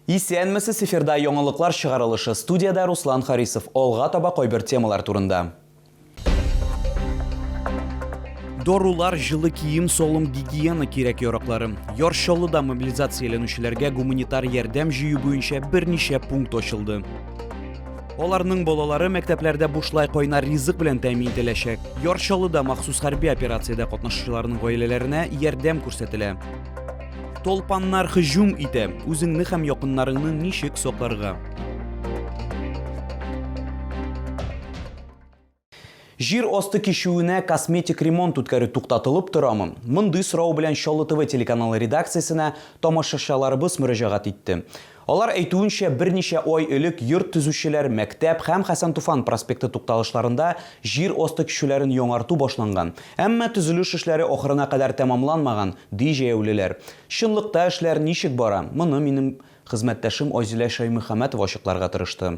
Исәнмесез Эфирда яңалыклар чыгарылышы Студиядә Руслан Харисов Алга таба кайбер темалар турында. Дарулар, җылы кием, салым гигиена кирәк-яраклары. Яр Чаллыда мобилизацияләнүчеләргә гуманитар ярдәм җыю буенча берничә пункт ачылды. Аларның балалары мәктәпләрдә бушлай кайнар ризык белән тәэмин ителәчәк. Яр Чаллыда махсус хәрби операциядә катнашучыларның гаиләләренә ярдәм күрсәтелә. Толпаннар хыҗум итә. Үзеңне һәм якыннарыңны ничек сакларга? Җир асты кишүенә косметик ремонт үткәрү туктатылып торамы? Мондый сорау белән Чаллы ТВ телеканалы редакциясенә тамашачыларыбыз мөрәҗәгать итте. Алар әйтүенчә, берничә ай элек йорт төзүчеләр Мәктәп һәм Хәсән-Туфан проспекты тукталышларында җир асты кичүләрен яңарту башланган. Әмма төзелеш эшләре ахырына кадәр тәмамланмаган, ди җәяүлеләр. Чынлыкта эшләр ничек бара? Моны минем хезмәттәшем Айзилә Шәймөхәмәтова ачыкларга тырышты.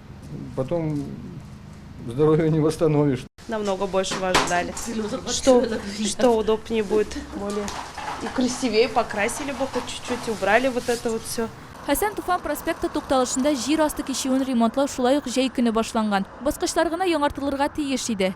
Потом здоровье не восстановишь. Намного больше вас ждали. Что, что удобнее будет, более и красивее покрасили бы хоть чуть-чуть, убрали вот это вот все. Хәсән Туфан проспекты тукталышында җир асты кичүен ремонтлау шулай ук җәй көне башланган. Баскычлар гына яңартылырга тиеш иде.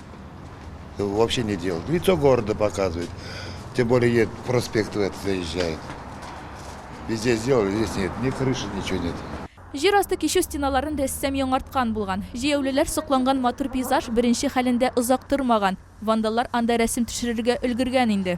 Вообще не делают. Лицо города показывают. Тем более едет проспект в это заезжает. Везде сделали, здесь нет. Ни крыши, ничего нет. Җир асты кичү стеналарын рәссам яңарткан булган. Җәяүлеләр сокланган матур пейзаж беренче хәлендә озак тормаган. Вандаллар анда рәсем төшерергә өлгергән инде.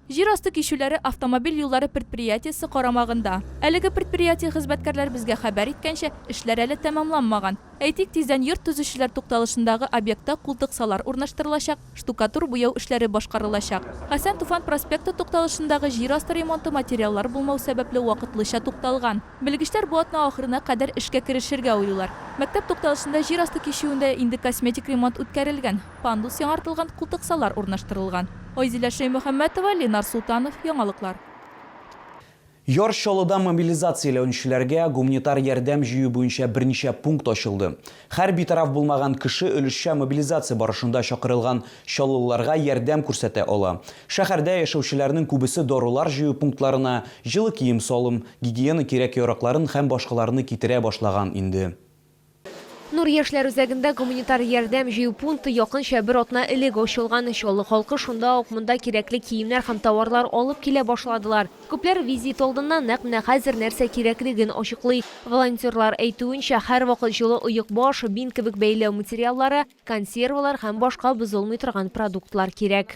Җир асты кичүләре автомобиль юллары предприятиесе карамагында. Әлеге предприятие хезмәткәрләре безгә хәбәр иткәнчә, эшләр әле тәмамланмаган. Әйтик, тиздән йорт төзүчеләр тукталышындагы объектта култыксалар урнаштырылачак, штукатур-буяу эшләре башкарылачак. Хәсән Туфан проспекты тукталышындагы җир асты ремонты материаллар булмау сәбәпле вакытлыча тукталган. Белгечләр бу атна ахырына кадәр эшкә керешергә уйлыйлар. Мәктәп тукталышында җир асты кичүендә инде косметик ремонт үткәрелгән. Пандус яңартылган, култыксалар урнаштырылган. Айзилә Шәймөхәммәтова, Ленар Солтанов, Яңалыклар. Яр Чаллыда мобилизацияләүнчеләргә гумнитар ярдәм җыю буенча берничә пункт ачылды. Хәр битараф булмаган кеше өлешчә мобилизация барышында чакырылган чаллылыларга ярдәм күрсәтә ала. Шәһәрдә яшәүчеләрнең күбесе дарулар җыю пунктларына җылы кием-салым, гигиена кирәк-яракларын һәм башкаларны китерә башлаган инде. Нур яшьләр үзәгендә гуманитар ярдәм җыю пункты якынча бер атна элек ачылган. Чаллы халкы шунда ук монда кирәкле киемнәр һәм товарлар алып килә башладылар. Күпләр визит алдыннан нәкъ менә хәзер нәрсә кирәклеген ачыклый. Волонтерлар әйтүенчә, һәрвакыт җылы оекбаш, бинт кебек бәйләү материаллары, консервалар һәм башка бозылмый торган продуктлар кирәк.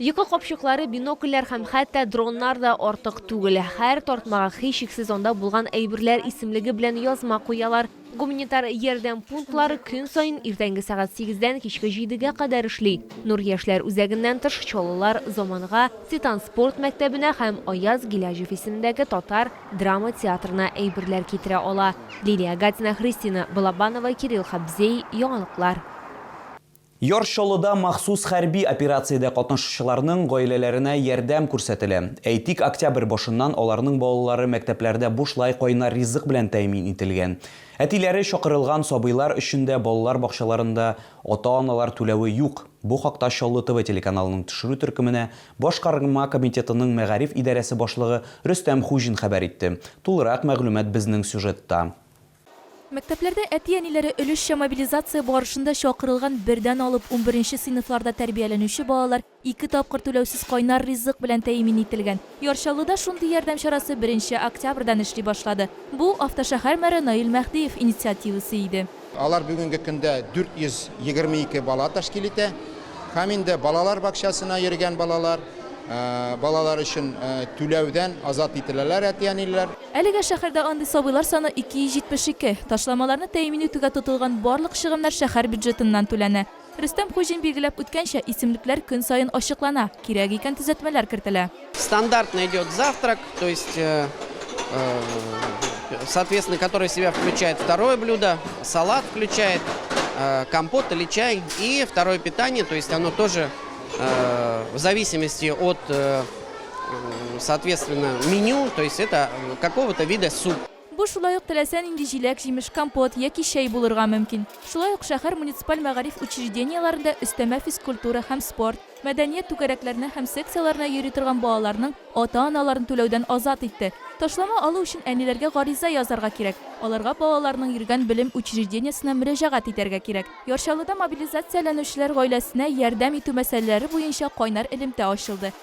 Йокы капчыклары, бинокльләр һәм хәтта дроннар да артык түгел. Һәр тартмага һичшиксез анда булган әйберләр исемлеге белән язма куялар. Гуманитар ярдәм пунктлары көн саен иртәнге сәгать сигездән кичке җидегә кадәр эшли. Нур яшьләр үзәгеннән тыш Чаллылар, Заманга, Титан спорт мәктәбенә һәм Аяз Гиләҗев исемендәге татар драма театрына әйберләр китерә ала. Лилия Гатина, Христина Балабанова, Кирилл Хабзей, яңалыклар. Яр Чаллыда махсус хәрби операциядә катнашучыларның гаиләләренә ярдәм күрсәтелә. Әйтик, октябрь башыннан аларның балалары мәктәпләрдә бушлай кайнар ризык белән тәэмин ителгән. Әтиләре чакырылган сабыйлар өчен дә балалар бакчаларында ата-аналар түләве юк. Бу хакта Чаллы ТВ телеканалының төшерү төркеменә Башкарма комитетының мәгариф идарәсе башлыгы Рөстәм Хуҗин хәбәр итте. Тулырак мәгълүмат безнең сюжетта. Мәктәпләрдә әти-әниләре өлешчә мобилизация барышында чакырылган бердән алып унберенче сыйныфларда тәрбияләнүче балалар ике тапкыр түләүсез кайнар ризык белән тәэмин ителгән. Яр Чаллыда шундый ярдәм чарасы беренче октябрьдан эшли башлады. Бу, автошәһәр мэры Наил Мәһдиев инициативасы иде. Алар бүгенге көндә 422 бала тәшкил итә. Һәм инде балалар бакчасына йөргән балалар, балалар өчен түләүдән азат ителәләр әти-әниләр. Әлегә шәһәрдә андый сабыйлар саны 272. Ташламаларны тәэмин итүгә тотылган барлык чыгымнар шәһәр бюджетыннан түләнә. Рөстәм Хуҗин билгеләп үткәнчә, исемлекләр көн саен ачыклана, кирәк икән төзәтмәләр кертелә. Стандартный идет завтрак, то есть соответственно который в себя включает второе блюдо, салат включает, компот или чай и второе питание, то есть оно тоже в зависимости от Соответственно, меню, то есть это какого-то вида суп. Бу шулай ук теләсә нинди җиләк, җимеш, компот яки чәй булырга мөмкин. Шулай ук шәһәр муниципаль мәгариф учреждениеләрендә өстәмә физкультура һәм спорт, мәдәният түгәрәкләренә һәм секцияләренә йөри торган балаларның ата-аналарын түләүдән азат итте. Ташлама алу өчен әниләргә гариза язарга кирәк. Аларга балаларының йөргән белем учреждениесенә мөрәҗәгать итәргә кирәк. Яр Чаллыда мобилизацияләнүчеләр гаиләсенә ярдәм итү мәсьәләләре буенча кайнар элемтә ачылды.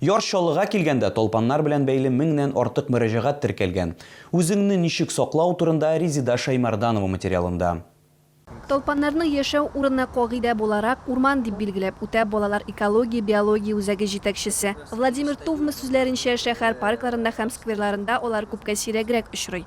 Яр Чаллыга килгәндә талпаннар белән бәйле меңнән артык мөрәҗәгать теркәлгән. Үзеңне ничек саклау турында Резеда Шәймәрданова материалында. Талпаннарны яшәү урыны кагыйдә буларак урман дип билгеләп үтә балалар экология-биология үзәге җитәкчесе. Владимир Тувмы сүзләренчә, шәһәр паркларында һәм скверларында алар күпкә сирәгрәк очрый.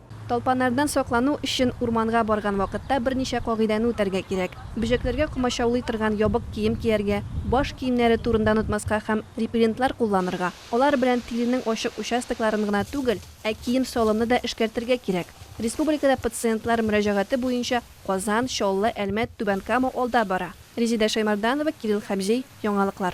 Талпаннардан саклану өчен урманга барган вакытта берничә кагыйдәне үтәргә кирәк, бөҗәкләргә комачаулый торган ябык кием кияргә, баш киемнәре турында онытмаска һәм репеллентлар кулланырга. Алар белән тиренең ачык участокларын гына түгел, ә кием-салымны да эшкәртергә кирәк. Республикада пациентлар мөрәҗәгате буенча Казан, Чаллы, Әлмәт, Түбән Кама алда бара. Резеда Шәймарданова, Кирилл Хәмзей, Яңалыклар.